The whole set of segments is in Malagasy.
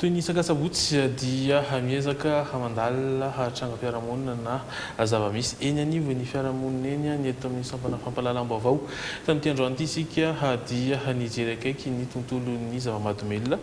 Toy ny isaka sabotsy dia miezaka hamandalina trangam-piarahamonina na zava-misy eny anivon'ny fiarahamonina eny ny eto amin'ny sampana fampahalalam-baovao. Tamin'ity androany ity isika dia nijery akaiky ny tontolon'ny zava-mahadomelina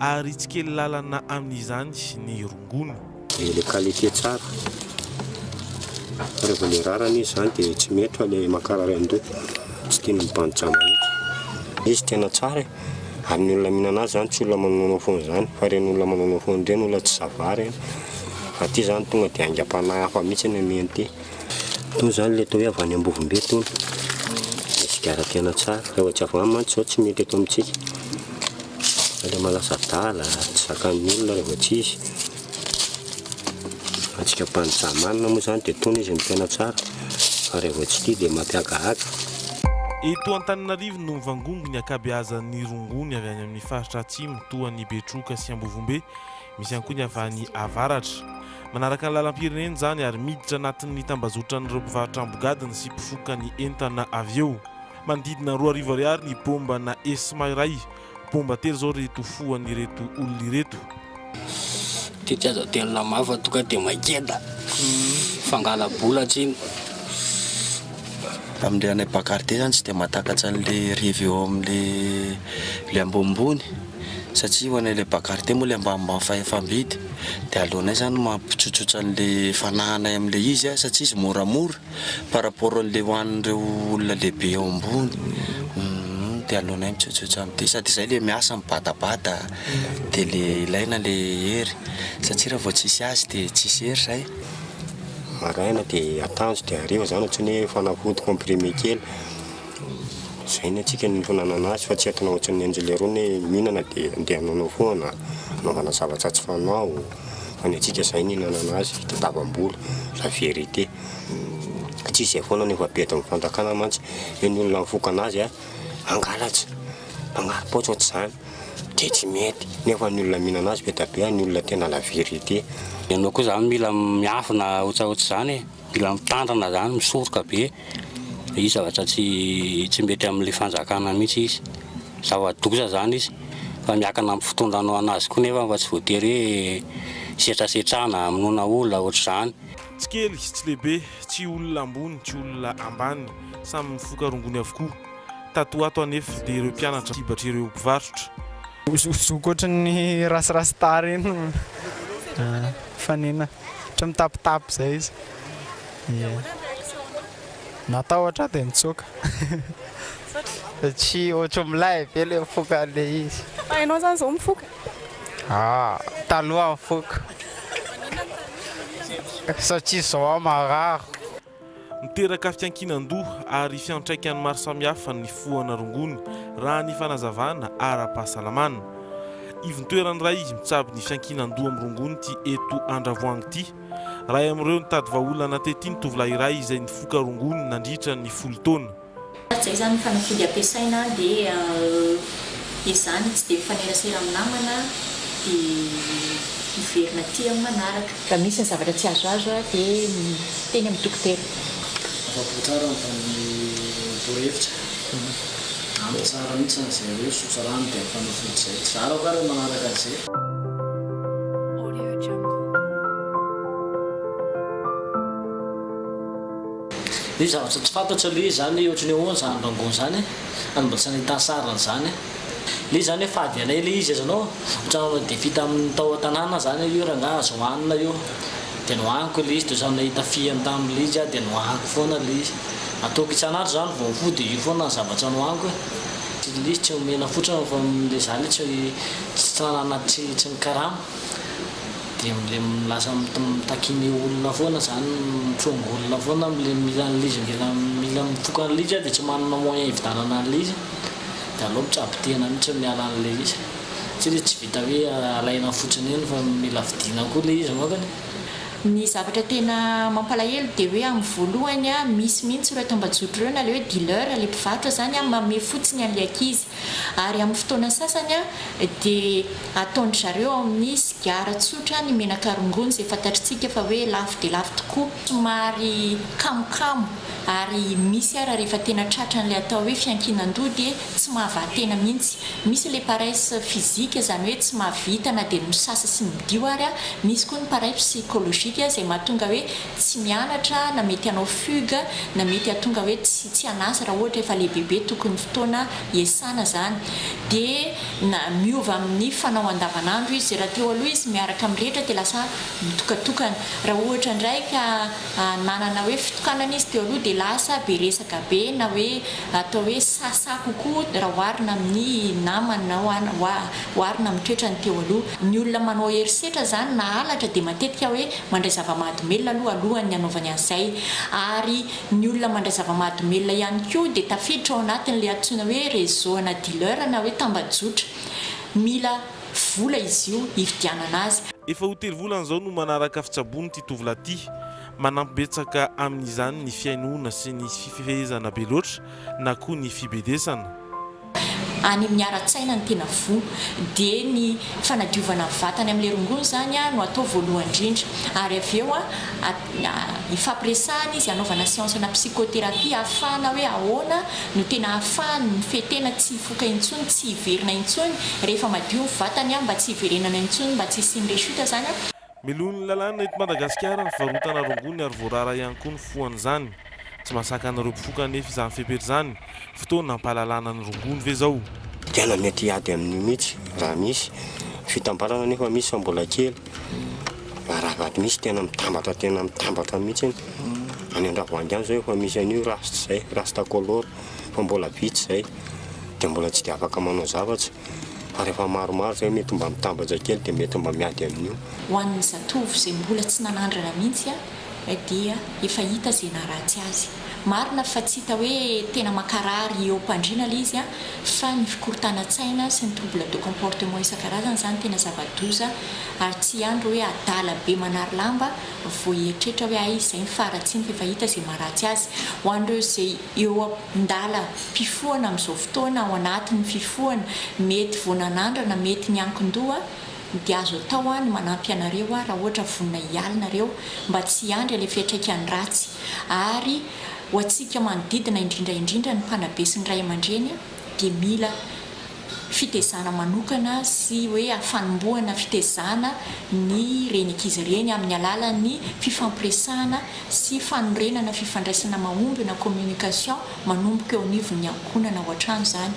ary tsy kely lalana amin'izany ny rongony. Ilay qualité tsara fa rehefa ilay rarany izy izany dia tsy mety fa ilay mankarary an-doha tsy tiany mibanjija mihitsy. Izy tena tsara e! ary ny olona mihinana azy izany tsy olona manonoana foana izany fa ireny olona manonoana foana ireny olona tsy zava-ary an! aty izany tonga dia aingam-panahy hafa mihitsy ny omeny ity. Toa izany ilay atao hoe avy any Ambovombe toa dia sigara tena tsara. Fa efa tsy avy any mantsy izao tsy mety eto amintsika. Fa ilay maha lasa adala, tsy zakan'ny olona raha vao tsy izy. Antsika mpanjizaha manana moa izany dia toana izy no tena tsara. Fa raha vao tsy tia dia mampihagahaga. Eto Antananarivo no mivangongo ny ankabeazan'ny rongony avy any amin'ny faritra atsimo toa an'i Betroka sy Ambovombe. Misy ihany koa ny avy any avaratra. Manaraka ny lalam-pirenena izany ary miditra anatin'ny tambazotran'ireo mpivarotra ambogadiny sy mpifoka ny entana avy eo. Manodidina roa arivo ariary ny bomba na ESMA iray. Bomba telo izao ry tofoan'ireto olona ireto. Ity tsy azo aterina mafy fa tonga dia maikeda. Fangala-bola tsy iny. Amin'ilay anay Bacardi izany tsy dia mahatakatra an'ilay revy eo amin'ilay ambonimbony. satria ho anay le bagarite moa le ambanimbany fahefam-bidy de aleonay zany mampitsotsotra anle fanahanay amle izy satria izy moramora par rapport anle ho anreo olona lehibe eo ambony de aleonay mitsotsotra amty sady zay le miasa mibatabata de le ilaina le hery satria raha vao tsisy azy de tsisy hery zay, maraina de atanjo de hariva zany ohatrany hoe fanafody comprimé kely. Izay ny antsika no fananana azy fa tsy entina ohatran'ny an'i Jelerony hoe mihinana dia andeha anonao foana, anaovana zavatra tsy fanao, fa ny antsika izay no hinanana azy, tadiavam-bola, la vérité. Ka tsy izay foana no efa be eto amin'ny fanjakana mantsy, hoe ny olona mifoka anazy a, hangalatra, hanari-paotra ohatr'izany, dia tsy mety, nefa ny olona mihinana azy be dia be, ny olona tena la vérité. Ianao koa izany mila miafina ohatsaohatr'izany e! Mila mitandrina zany misoroka be izy zavatra tsy tsy mety amle fanjakana mihitsy izy zava doza zany izy fa miakina am fitondra anao anazy koa nefa fa tsy voatery hoe setrasetrana amonona olona otrzany. Tsy kely sy tsy lehibe, tsy olona ambony, tsy olona ambany, samy mifoka rongony avokoa. Tato ho ato anefa dia ireo mpianatra sibatra ireo mpivarotra. Zokizoky ohatran'ny rasirasy tara eny fanena. ohatra hoe mitapitapy izay izy. Dia ahoana ny réaction-nao? Natahotra aho dia nitsoaka. Satria? Satria ohatra hoe milay be ilay mifoka an'ilay izy. Fa ianao izany izao mifoka? Ah, taloha nifoka. Satria izao aho marary. Miteraka fiankinan-doha ary fiantraikany maro samihafa ny fohana rongony, raha ny fanazavana ara-pahasalamana. Ivon-toerana iray mitsabo ny fiankinan-doha amin'ny rongony ity eto Andravoahangy ity. Iray amin'ireo nitady vahaolana tety ny tovolahy iray izay nifoka rongony nandritra ny folo taona. Araka izay izany ny fanafody ampiasaina dia ezahina tsy dia mifanerasera amin'ny namana dia miverina aty amin'ny manaraka. Raha misy ny zavatra tsy azoazo dia miteny amin'ny dokotera. Afa-po tsara ny valin'ny torohevitra. Ampy tsara mihitsy izany izay hoe sotra rano dia ny fanafody izay. Zara koa ary ny manaraka an'izay. Misy zavatra tsy fantatro aloha izy zany ohatran'ny ahoana zany rangoon zany any mbola tsy nahita sariny zany le zany hoe fady anay le izy azonao ohatran'ny manao defi taminy tao an-tanàna zany io rangaha azo hohanina io de nohaniko le izy de ohatran'ny nahita fihany taminy le izy aho de nohaniko foana le izy ataoko isan'andro zany vao mifoha de io foana ny zavatra nohaniko e le izy tsy nomena fotsiny fa le za le tsy tsy nanana tsy tsy nikarama. Dia mle lasa mitakia ny olona foana zany, mitrongy olona foana mle mila an'lizy mila mila mitsoka an'lizy aho dia tsy manana moyen hividanana an'lizy dia aleo mitsabo tena mitsy miala an'le izy satria le tsy vita hoe alaina fotsiny eny fa mila vidina koa le izy angambany. Ny zavatra tena mampalahelo dia hoe amin'ny voalohany misy mihitsy ireo tambajotro ireo na le hoe dealer le mpivarotra zany mamehy fotsiny an'le ankizy Ary amin'ny fotoana sasany dia ataon-dry zareo ao amin'ny sigara tsotra ny menaka rongony izay fantatritsika fa hoe lafo dia lafo tokoa, somary kamokamo ary misy ary rehefa tena tratran'ilay atao hoe fiankinan-doha dia tsy mahavaha-tena mihitsy. Misy ilay paresse physique izany hoe tsy mahavita na dia ny misasa sy midio ary, misy koa ny paresse psychologique izay mahatonga hoe tsy mianatra na mety hanao fugue na mety hahatonga hoe tsy tsy hanasa raha ohatra efa lehibebe tokony fotoana hiasana izany dia na miova amin'ny fanao andavanandro izy raha teo aloha izy miaraka amin'ny rehetra dia lasa mitokatokana raha ohatra indray ka nanana hoe fitokanana izy teo aloha dia lasa be resaka be na hoe atao hoe sasa kokoa raha oharina amin'ny namany na oharina amin'ny toetrany teo aloha ny olona manao herisetra izany na halatra dia matetika hoe mandray zava-mahadomelina aloha alohan'ny hanaovany an'izay ary ny olona mandray zava-mahadomelina ihany koa dia tafiditra ao anatin'ilay antsoina hoe réseau ana dealer na hoe tambajotra. Mila vola izy io hividianana azy. Efa ho telo volana izao no manaraka fitsaboan'ity tovolahy ity. Manampy betsaka amin'izany ny fihainoana sy ny fifehezana be loatra na koa ny fibedesana. Any amin'ny ara-tsaina ny tena voa, dia ny fanadiovana ny vatany amin'ilay rongony izany no atao voalohany indrindra, ary avy eo ifampiresahana izy, anaovana séance ana psychothérapie ahafahana hoe ahoana no tena ahafahany mifehy tena tsy hifoka intsony, tsy hiverina intsony rehefa madio ny vatany, mba tsy hiverenana intsony, mba tsy hisian'ny rechute izany. Melohin'ny lalàna eto Madagasikara ny fivarotana rongony ary voarara ihany koa ny fohan'izany. Tsy mahasakana ireo mpifoka anefa izany fepetra izany. Fotoana hampahalalana ny rongony ve izao? Tena mety hiady amin'io mihitsy raha misy fitambarana nefa misy fa mbola kely fa raha vao misy tena mitambatra tena mitambatra mihitsy iny any Andravoahangy any izao efa misy an'io rasta izay, rasta color, fa mbola vitsy izay dia mbola tsy dia afaka manao zavatra. ary rehefa maromaro izay mety mba mitambatra kely dia mety mba miady amin'io. Ho an'ny zatovo izay mbola tsy nanandrana mihitsy dia efa hita izay naharatsy azy. Marina fa tsy hita hoe tena mankarary eo am-pandriana ilay izy fa ny fikorontanan-tsaina sy ny trouble de comportement isan-karazany izany tena zava-doza ary tsy ihany ireo hoe adala be manary lamba vao hieritreritra hoe hay izay ny faharatsiany fa efa hita izay maharatsy azy. Ho an'ireo izay eo Ndalam-pifohana amin'izao fotoana ao anatin'ny fifohana mety vao nanandrana mety ny ankin-doha dia azo atao ny manampy anareo aho raha ohatra vonona hialy nareo mba tsy hiandry ilay fiatraikany ratsy ary ho antsika manodidina indrindra indrindra ny mpanabe sy ny ray aman-dreny dia mila fitezana manokana sy hoe hafanombohana fitezana ny reny ankizy reny amin'ny alalan'ny fifampiresahana sy fanorenana fifandraisana mahomby na communication manomboka eo anivon'ny ankohonana ao an-trano izany.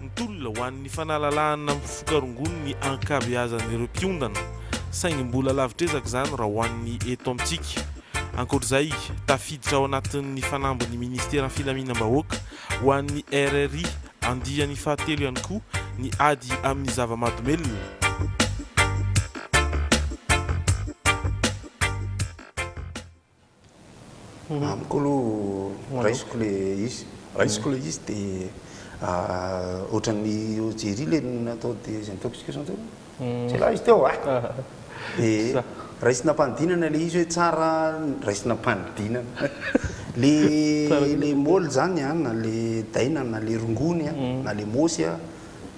Ny tolona ho an'ny fanalalahana mifoka rongony ny ankabeazan'ireo mpiondana. saingy mbola lavitr'ezaka izany raha ho an'ny eto amintsika. Ankoatr'izay, tafiditra ao anatin'ny fanambin'ny Ministeran'ny Filaminam-bahoaka ho an'ny RRI andiany fahatelo ihany koa ny ady amin'ny zava-mahadomelina. Amiko aloha raisiko le izy, raisiko le izy de ohatran'ny Jerry le natao désintoxication teo, jialahy izy teo ah! de raisina am-panidinana le izy hoe tsara, raisina am-panidinana, le le môly zany an, na le daina, na le rongony an, na le môsy an,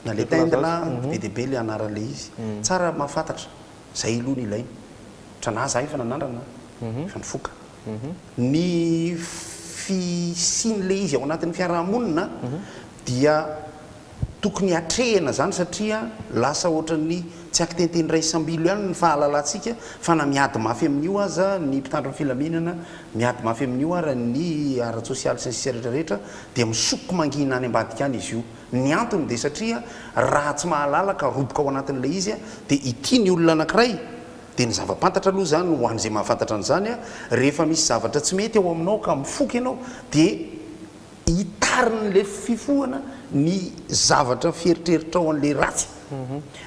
na le tendla, be dia be le anaran'le izy, tsara mahafantatra. Zay aloha no ilaina. Tra na za efa nanandrana an, efa nifoka. Ny fisian'ilay izy ao anatin'ny fiaraha-monina dia tokony hatrehina zany satria lasa ohatran'ny tsy akitenten'ny raisambilo ihany ny fahalalantsika fa na miady mafy amin'io aza ny mpitandro ny filaminana, miady mafy amin'io ara ny ara-tsosialy sy ny sisa rehetra rehetra dia misoko mangina any ambadika any izy io. Ny antony dia satria raha tsy mahalala ka roboka ao anatin'ilay izy dia ity ny olona anankiray dia ny zava-pantatra aloha izany ho an'izay mahafantatra an'izany rehefa misy zavatra tsy mety ao aminao ka mifoka ianao dia hitarin'ilay fifohana ny zavatra fieritreritranao an'ilay ratsy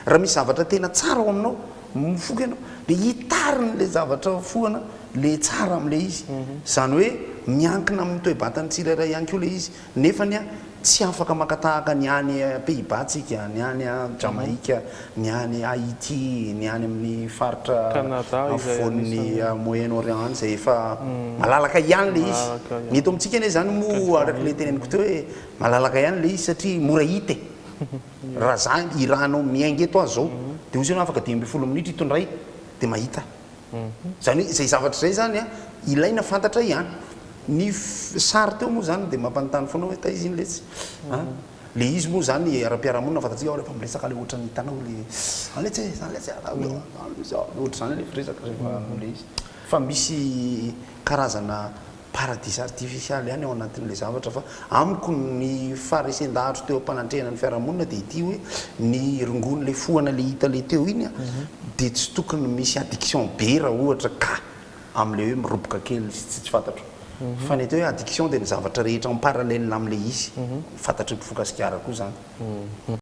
raha misy zavatra tena tsara ao aminao mifoka ianao dia hitarin'ilay zavatra fohana ilay tsara amin'ilay izy izany hoe miankina amin'ny toe-batan'ny tsirairay ihany koa ilay izy Nefa anie tsy afaka maka tahaka ny any Pays-Bas tsika, ny any Jamaika, ny any Haiti, ny any amin'ny faritra afovoan'ny Moyen-Orient any izay efa malalaka ihany ilay izy. Ny eto amintsika anie izany moa araka ilay teneniko teo hoe malalaka ihany ilay izy satria mora hita e! Raha za, i Ra anao miainga eto aza izao dia ozy ianao afaka dimy ambin'ny folo minitra hitondray dia mahita. Izany hoe izay zavatra izay izany an, ilaina fantatra ihany. Ny sary teo moa izany dia mampanontany foana hoe taiza iny letsy an? Ilay izy moa izany ara-piarahamonina fantatsika ao rehefa miresaka ilay ohatran'ny hitanao ilay izany letsy e, izany letsy a, ohatr'izany ilay firesaka rehefa manao ilay izy. Fa misy karazana. Paradisa artifisialy ihany ao anatin'ilay zavatra fa amiko ny faharesen-dahatro teo am-panandrihana ny fiarahamonina dia ity hoe ny rongon'ilay fohana ilay hita ilay teo iny dia tsy tokony misy addiction be raha ohatra ka amin'ilay hoe miroboka kely sy tsy fantatro fa ny atao hoe addiction dia ny zavatra rehetra en parallèle amin'ilay izy fantatry ny mpifoka sigara koa izany.